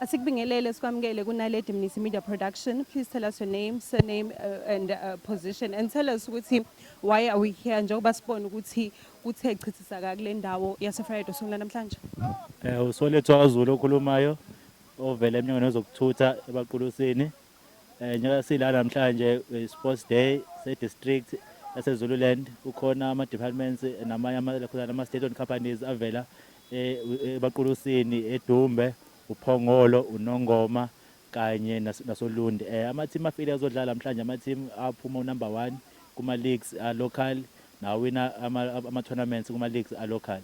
Asikubingelele sikwamukele kuNaledi Mnisi Media Production. Please tell us your name, surname uh, and uh, position and tell us ukuthi why are we here njengoba sibona ukuthi kuthe chithisaka kule ndawo yaseFriday songula namhlanje. Eh uSolethwa kaZulu okhulumayo ovela eminyangweni wezokuthutha ebaqulusini. Eh njengoba sila namhlanje eh, Sports Day se district yase Zululand kukhona ama departments eh, namanye ama khona ama state owned companies avela eh, eh, ebaqulusini eDumbe uPhongolo uNongoma kanye nas- nasoLundi eh ama team afile azodlala namhlanje ama team aphuma u number 1 kuma leagues a local nawina ama ama tournaments kuma leagues a local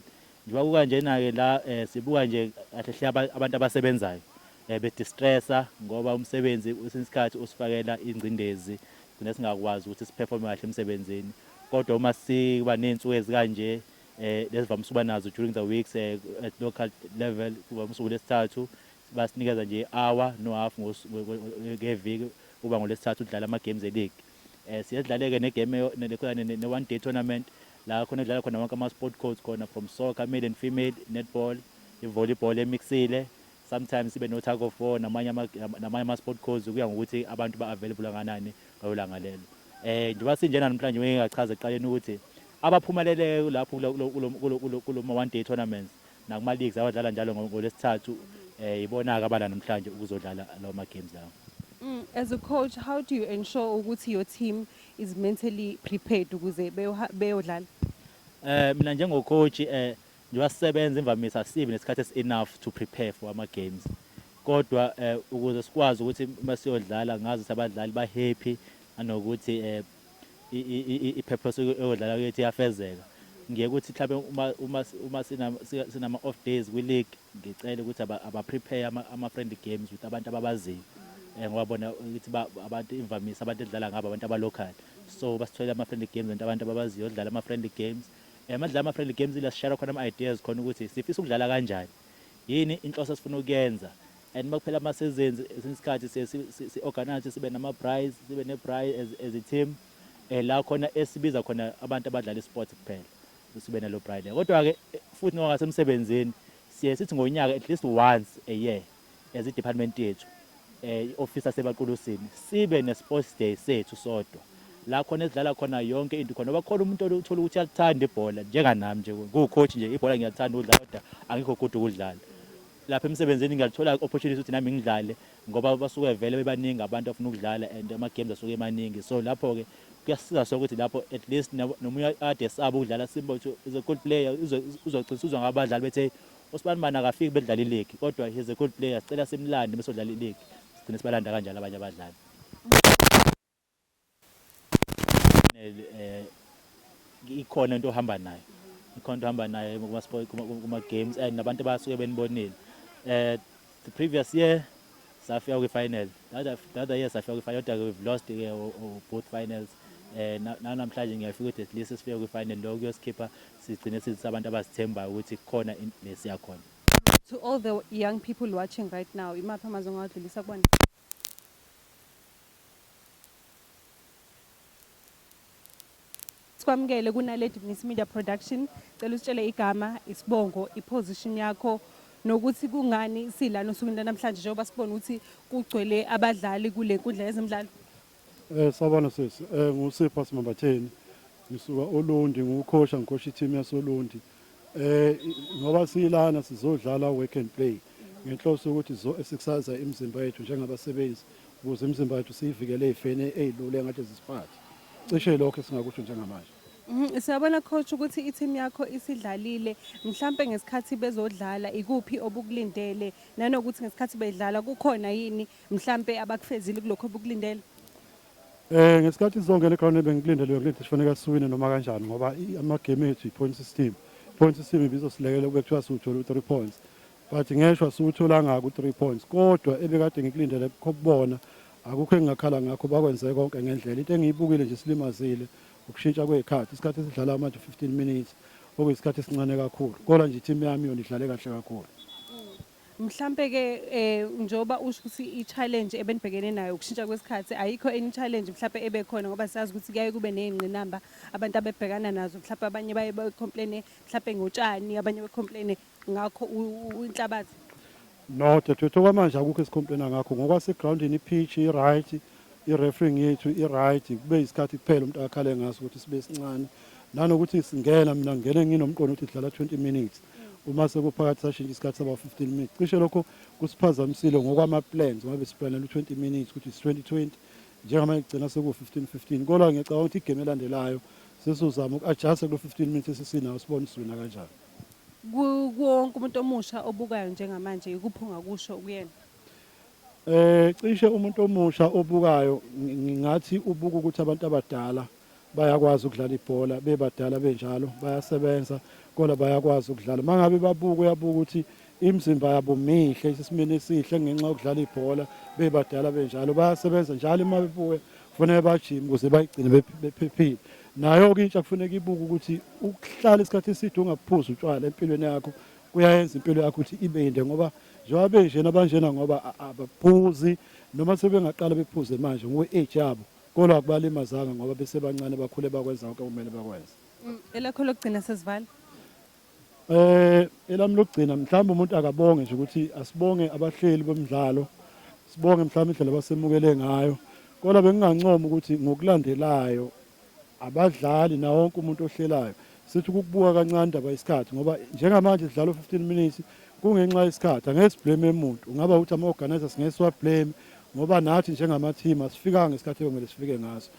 Njoba kukanjena ke la sibuka nje kahle hle abantu abasebenzayo be distressa ngoba umsebenzi kwesinye isikhathi usifakela ingcindezi sigcine singakwazi ukuthi siperforme kahle emsebenzini kodwa uma siba nezinsuku ezikanje lesivamise ukuba nazo during the weeks at local level kuba usuku lesithathu basinikeza nje hour no half ngeviki uba ngolesithathu udlala ama games e league Eh siyadlaleke ne game ne ne one day tournament la khona edlala khona wonke ama sport codes khona from soccer male and female netball i volleyball emixile sometimes sibe no tug of war namanye ama namanye ama sport codes kuya ngokuthi abantu ba available kanani ngolanga lelo eh njengoba sinjena namhlanje ngeke ngachaza eqaleni ukuthi abaphumeleleyo lapho kuloma one day tournaments nakuma-leagues awadlala njalo ngo- ngolwesithathu eh yibona-ke abala namhlanje ukuzodlala lawo ma-games lawo Mm, as a coach, how do you ensure ukuthi your team is mentally prepared ukuze beyoha- beyodlala? Eh mina njengocoach eh njengoba sisebenza imvamisa sibi nesikhathi esi enough to prepare for ama games. Kodwa eh ukuze sikwazi ukuthi uma siyodlala ngazi ukuthi abadlali ba happy anokuthi eh i-purpose eyodlala kuyethi iyafezeka. Ngiye ukuthi mhlampe uma uma uma sinama off days kwi league ngicela ukuthi aba prepare ama friendly games with abantu ababaziyo. Eh, ngoba bona ukuthi abantu imvamisa abantu edlala ngabo abantu aba local. So basitholela ama friendly games and abantu ababaziyo dlala ama friendly games. Eh, madlala ama friendly games ila share khona ama ideas khona ukuthi sifisa ukudlala kanjani. Yini inhloso esifuna ukuyenza? and makuphela ama seasons esinye isikhathi siye si- si- si-organize ukuthi sibe nama-braais sibe ne-braai as, as i-team um la khona esibiza khona abantu abadlala i-sport kuphela sibe nalo braai leyo kodwa-ke eh, futhi ngoba ngasemsebenzini siye sithi ngonyaka at least once a year as i-department yethu um i-ofisi yasebaqulusini sibe ne-sports day sethu sodwa la khona esidlala khona yonke into khona bakhona umuntu othola ukuthi uyalithanda ibhola njenganami nje kuwucoach nje ibhola ngiyalithanda ukudlala kodwa angikho good ukudlala lapha emsebenzini ngiyalithola opportunity ukuthi nami ngidlale ngoba basuke vele bebaningi abantu afuna ukudlala and ama games asuke emaningi so lapho ke kuyasiza so ukuthi lapho at least nomunye ade saba ukudlala simba ukuthi is a good player uzogcina uzwa ngabadlali bethe usibani bani akafiki bedlala iligi kodwa he's a good player sicela simlande bese udlala iligi sigcine sibalanda kanjalo abanye abadlali ikhona into ohamba nayo ikhona into ohamba nayo kuma-games and nabantu abasuke benibonile um the previous year safika kwi-final the other year safika kwi-final kodwa-ke we've lost-ke both finals eh namhlanje ngiyafika ukuthi at least sifike kwi-final lokho kuyosikhipha sigcine sithi abantu abasithembayo ukuthi kukhona lesiya khona to all the young people watching right now imaphi amazwi ongawadlulisa kubona Sikwamukele kuNaledi Mnisi Media Production. Cela usitshele igama, isibongo, iposition yakho nokuthi kungani silana osukwini lanamhlanje njengoba sibona ukuthi kugcwele abadlali kule nkundla yezemidlalo. Eh sabona sisi eh ngusipha simambatheni ngisuka olundi ngukhosha ngikhosha i-team yasolundi eh ngoba silana sizodlala work and play ngenhloso ukuthi sizoexercise imizimba yethu njengabasebenzi ukuze imizimba yethu siyivikele ey'feni ey'lule ngathi zisiphathe cishe lokho esingakusho njengamanje mhm, Siyabona coach ukuthi i-team yakho isidlalile mhlampe ngesikhathi bezodlala ikuphi obukulindele nanokuthi ngesikhathi bedlala kukhona yini mhlampe abakufezile kulokho obukulindele Eh ngesikhathi sizongena eground bengikulindele ukuthi sifanele siwine noma kanjani ngoba i- amagame ethu i-point system point system ibizosilekela kube kuthiwa siwuthola u-3 points but ngeshwa siwutholanga ku-3 points kodwa ebekade ngikulindele kukho kubona akukho engingakhala ngakho bakwenze konke ngendlela into engiyibukile nje silimazile ukushintsha kwey'khathi isikhathi esidlala manje 15 minutes okuyisikhathi esincane kakhulu kodwa nje i-team yami yona idlale kahle kakhulu Mhlampe ke eh njoba usho ukuthi i challenge ebenibhekene nayo ukushintsha kwesikhathi ayikho any challenge mhlampe ebe khona ngoba siyazi ukuthi kuyaye kube nezingqinamba abantu abebhekana nazo mhlampe abanye baye be complain mhlampe ngotshani abanye be complain ngakho inhlabathi No dadewethu kwamanje akukho esikhompena ngakho ngokwase groundini ipitch i right i refereeing yethu i right kube isikhathi kuphela umuntu akhale ngaso ukuthi sibe sincane nanokuthi singena mina ngingene nginomqondo ukuthi sidlala 20 minutes uma sekuphakathi sashintsha isikhathi saba 15 minutes cishe lokho kusiphazamisile ngokwama plans ngoba besiplanela u20 minutes ukuthi is 2020 njengamanje kugcina seku 15 15 kodwa ngiyacabanga ukuthi igame elandelayo sesizama uku-adjust kulo 15 minutes esisinawo sibone sivina kanjani kuwonke umuntu omusha obukayo njengamanje ikuphi ungakusho kuyena eh cishe umuntu omusha obukayo ngingathi ubuka ukuthi abantu abadala bayakwazi ukudlala ibhola bebadala benjalo bayasebenza kodwa bayakwazi ukudlala mangabe babuka uyabuka ukuthi imizimba yabo mihle isesimeni esihle ngenxa yokudlala ibhola bebadala benjalo bayasebenza njalo uma bebuya kufanele bajime ukuze bayigcine bephephile nayo-ke intsha kufuneka ibuke ukuthi ukuhlala isikhathi eside ungaphuzi utshwala empilweni yakho kuyayenza impilo yakho ukuthi ibe yinde ngoba njengoba benjena abanjena ngoba abaphuzi noma sebengaqala bephuze manje ngokwe-age yabo Kodwa akubalimazanga ngoba besebancane bakhule bakwenza konke okumele bakwenze. Mm, Elakho lokugcina sesivala. Eh elami lokugcina mhlawumbe umuntu akabonge nje ukuthi asibonge abahleli bomdlalo. Sibonge mhlawumbe indlela abasemukele ngayo. Kodwa bengingancoma ukuthi ngokulandelayo abadlali nawo wonke umuntu ohlelayo sithi ukukubuka kancane indaba yesikhathi ngoba njengamanje sidlala u-15 minutes kungenxa yesikhathi angeke siblame muntu ungaba ukuthi ama-organizers ngeke siwablame ngoba nathi njengama-team asifikanga ngesikhathi ekumele sifike ngaso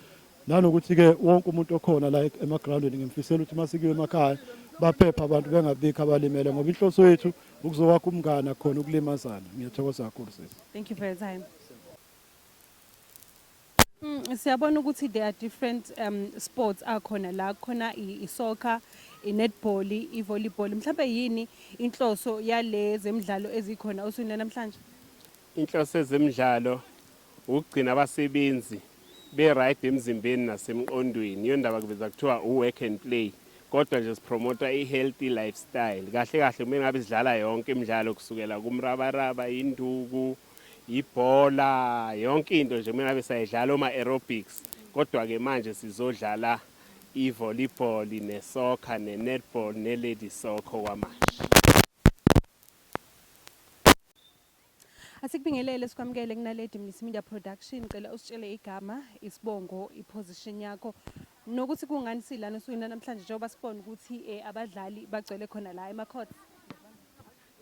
nanokuthi-ke wonke umuntu okhona la emagrawundini ngimfisela ukuthi uma sikiwe emakhaya baphephe abantu bengabikho abalimele ngoba inhloso yethu ukuzokwakha umngane akhona ukulimazana ngiyathokoza kakhulu sisi thank you for your time Mm, siyabona ukuthi there are different um, sports akhona la khona isoccer inetball ivolleyball mhlawumbe yini inhloso yale zemidlalo ezikhona osukwini lanamhlanje inhloso ezemidlalo ukugcina abasebenzi be-right emzimbeni nasemqondweni iyo ndaba kuveza kuthiwa u-work and play kodwa nje sipromota i-healthy lifestyle kahle kahle kumele ngabe sidlala yonke imidlalo kusukela kumrabaraba induku ibhola yonke into nje mina besayidlala oma aerobics kodwa ke manje sizodlala ivolleyball nesoccer nenetball nelady soccer kwamanje Asikubingelele sikwamukele kunaledi Mnisi Media Production cela usitshele igama isibongo iposition yakho nokuthi kungani silana usuwina namhlanje njengoba sibona ukuthi eh, abadlali bagcwele khona la emacourt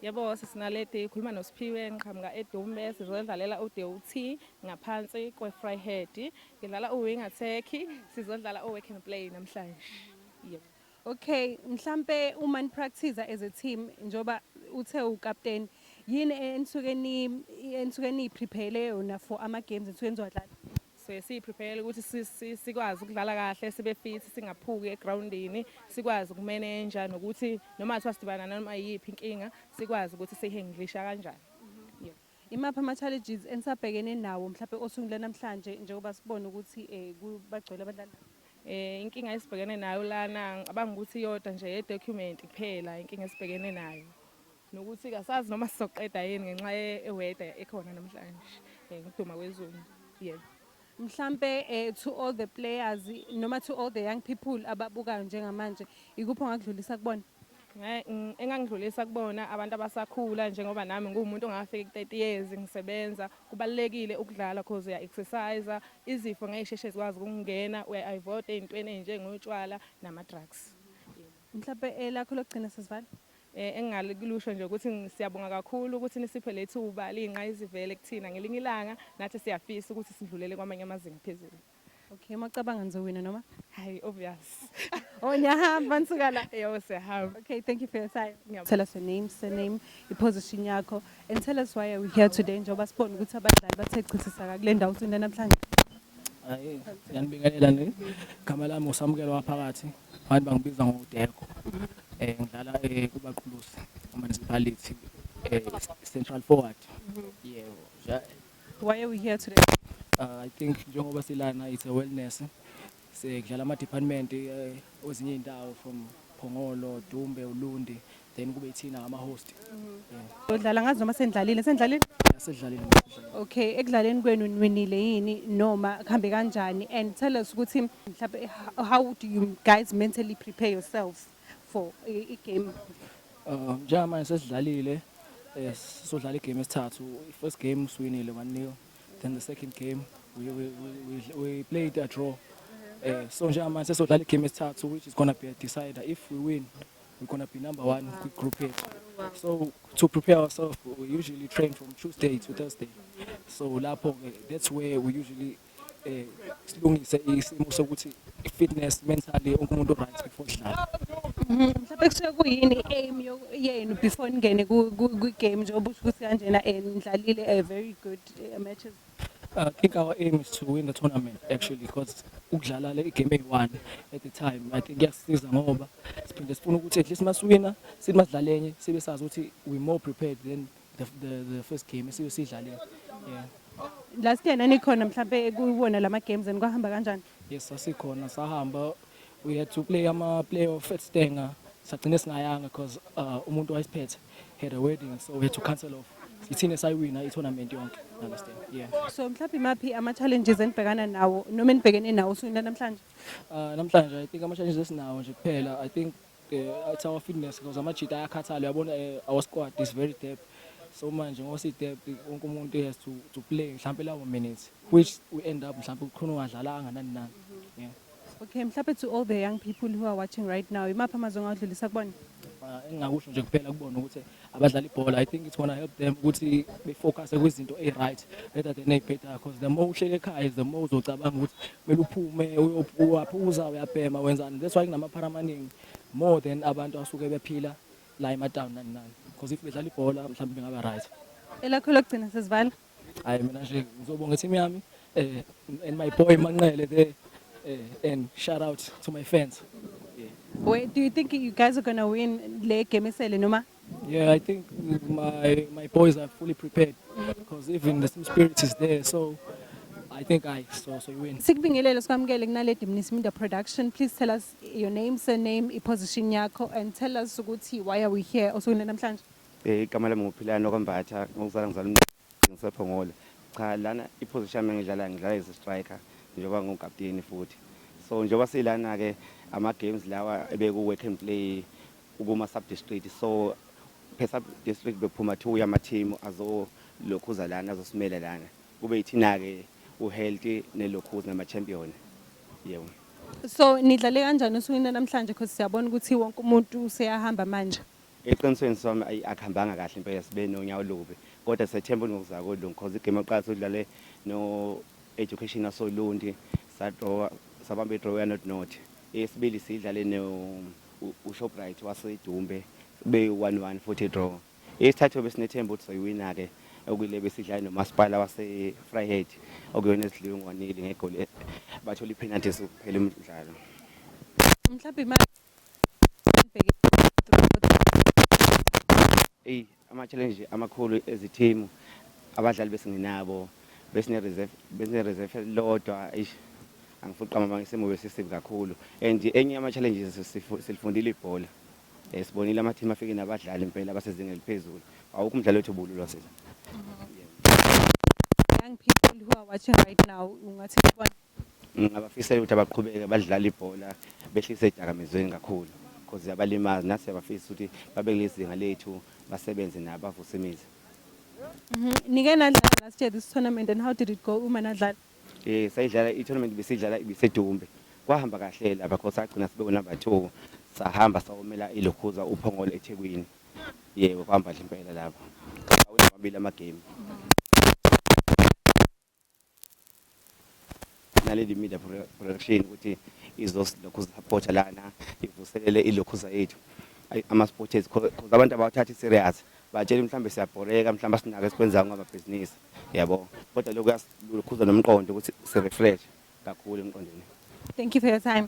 Yebo sisi Naledi ukhuluma noSiphiwe ngiqhamuka eDumbe sizodlalela uDUT ngaphansi kweFryhead. Ngidlala uwing attack sizodlala uwork and play namhlanje. Yebo. Okay, mhlampe uma nipractice as a team njoba uthe ukapteni yini enisuke ni enisuke niyiprepare yona for ama games enisuke nizowadlala? so siyiprepare ukuthi sikwazi ukudlala kahle sibe fit singaphuki egrawundini sikwazi ukumenenja nokuthi noma kuthiwa sidibana nanoma yiyiphi inkinga sikwazi ukuthi siyi-handlisha kanjani mhm. imaphi ama-challenges enisabhekene nawo mhlawumbe osungule namhlanje njengoba sibone ukuthi um bagcwele abadlali eh inkinga esibhekene nayo lana ngicabanga ukuthi iyodwa nje ye-document kuphela inkinga esibhekene nayo nokuthi kasazi noma sizoqeda yini ngenxa yeweda ekhona namhlanje eh, ngokuduma kwezulu yebo mhlampe eh, to all the players noma to all the young people ababukayo njengamanje ikuphi ongakudlulisa kubona engangidlulisa kubona abantu abasakhula njengoba nami nguwumuntu ongafiki ku-30 years ngisebenza kubalulekile ukudlala cause uya-exercise izifo ngeke sheshe zikwazi ukungena uya-ivota ey'ntweni ey'njengotshwala nama-drugs Mhlawumbe elakho lokugcina sesivala. Eh, engingalikusho nje ukuthi siyabonga kakhulu ukuthi nisiphe lethuba liyinqayizivele kuthina ngelinye ilanga nathi siyafisa ukuthi sidlulele kwamanye amazinga phezulu Okay, uma ucabanga nizowina noma? Hayi, obvious. oh, niyahamba nisuka la. Yebo siyahamba. Okay, thank you for your time. Tell us your name, surname, iposition yakho and tell us why are we here today njengoba sibona ukuthi abadlali bathe chithisaka kule ndawo usunde namhlanje. Hayi, ngiyanibingelela nini. Gama lami usamukelo waphakathi. Abantu bangibiza ngoDeko. Eh ngidlala eh, kubaqhulusi municipality eh, central forward. Yebo. Ja- Why are we here today? Uh, I think njengoba silana it's a wellness. Sekudlala ama department eh, kwezinye indawo from Phongolo, Dumbe, Ulundi. then kube ithina ama host yeah Udlala ngazi noma sendlalile sendlalile asedlalile Okay ekudlaleni kwenu niwinile yini noma kuhambe kanjani and tell us ukuthi mhlawumbe how- how do you guys mentally prepare yourselves for i- i-game um njengamanje sesidlalile eh, sizodlala igame esithathu i-first game siwinile one nil then the second game we, we, we, we- we played a draw um so njengamanje sesodlala igame esithathu which is gonna be a decider if we win we're gonna be number one with group A. So to prepare ourselves, we usually train from Tuesday to Thursday. So lapho that's where we usually eh silungise isimo sokuthi fitness mentally onke umuntu right before sidlala. Mhm, Mhlawumbe kusuke kuyini aim yo- yenu before ningene ku- ku- kwi-game njengoba usho ukuthi kanjena eh, nidlalile a very good eh, matches. Uh, I think our aim is to win the tournament actually because ukudlala le game eyi-one at the time I think kuyasisiza ngoba siphinde sifuna ukuthi at least masiwina sithi masidlale enye sibe sazi ukuthi we more prepared than the, the, the first game esibe siyidlalile yeah. last year nanikhona mhlawumbe kuwona la ma-games and kwahamba kanjani yes sasikhona sahamba We had to play ama playoff at Stenga. Sagcine singayanga because uh, umuntu wayesiphethe had a wedding so we had to cancel off. Ithina sayiwina i-tournament yonke. Understand? Yeah. So mhlawumbe imaphi ama challenges enibhekana nawo noma enibhekene nawo usukwini namhlanje? Uh, namhlanje I think ama challenges esinawo nje kuphela I think uh, it's our fitness because amajita ayakhathala uyabona uh, our squad is very depth. So manje ngoba si depth wonke umuntu has to to play mhlawumbe lawo minutes which we end up mhlawumbe ukhona ongadlalanga nani nani. Yeah. Okay, mhlawumbe to all the young people who are watching right now, imaphi amazwi ongawadlulisa kubona? Ah, engingakusho nje kuphela kubona ukuthi abadlali ibhola i think it's gonna help them ukuthi befocuse kwizinto e-right rather than ey'bhedayo because the more uhlele ekhaya the more uzocabanga ukuthi kumele uphume uyo- uyaphuza uyabhema wenzani that's why kunamaphara amaningi more than abantu asuke bephila la ematawuni nani nani because if bedlala ibhola mhlawumbe bengaba right Elakho lokugcina sesivala. hayi mina nje ngizobonga team yami eh and my boy Manqele there eh, and shout out to my fans Wait, do you think you guys are going to win le game esele noma? yeah i think my my boys are fully prepared because even the team spirit is there so i think i so so you win Sikubingelele sikwamukele kunaledi Mnisi Minda Production. Please tell us your name, surname, iposition yakho and tell us ukuthi why are we here osukwini namhlanje? Eh, igama lami nguphilani okwambatha ngokuzala ngizala ngisephongole cha lana iposition yami engidlala ngidlala as striker njengoba ngukapteni futhi so njengoba silana ke ama games lawa ebeku work and play ukuma sub district so per sub district bekuphuma two yama team azo lokhuza lana azosimela lana kube ithina ke u healthy ne lokhuza nama champion yebo so nidlale kanjani usukwini namhlanje because siyabona ukuthi wonke umuntu useyahamba manje Eqinisweni Somi ayi akuhambanga kahle impela sibe nonyawo lubi kodwa sethemba ukuthi ngokuzayo kolungu cause igame yokuqala sodlale no Education Asolundi sadraw sabamba idraw ya not not eyesibili sidlale no uShoprite waseDumbe be 1-1 futhi draw eyesithathu besinethemba ukuthi soyiwina ke okuyile besidlale nomasipala wase Fryhead okuyona esidliwe ngwanili ngegoli bathola ipenalty sokuphela umdlalo mhlawumbe eyi ama-challenge amakhulu ezithimu abadlali besingenabo besine-reserve besine-reserve elilodwa eish angifuni uqamba amanga isimo besisibi kakhulu and enye yama-challenges sifu- silifundile ibhola um sibonile amathimu afike nabadlali impela abasezingeni eliphezulu awukho umdlali wethu ubululwa sila young people who are watching right now ungathi kubona Ngingabafisela ukuthi abaqhubeke badlale ibhola behlise edakamizweni kakhulu because yabalimazi nathi siyabafisa ukuthi babe kuleli zinga lethu basebenze nabo bavuse imizi. Mhm. Nike nadlala last year this tournament and how did it go uma nadlala? Eh sayidlala i-tournament besidlala ibisedumbe. Kwahamba kahle lapha because sagcina sibe number 2 sahamba sawomela ilokhuza uphongolo eThekwini. Yebo kwahamba kahle impela lapho. Awina amabili ama game. naleli media production ukuthi izozilokhu zisapota lana ivuselele ilokhuza yethu ama-sports because abantu abawathathi serious batshela mhlawumbe siyabhoreka mhlawumbe asinake esikwenzayo ngamabhizinisi yabo kodwa lokhu kuyasilukhuza nomqondo ukuthi si-refresh kakhulu emqondweni thank you for your time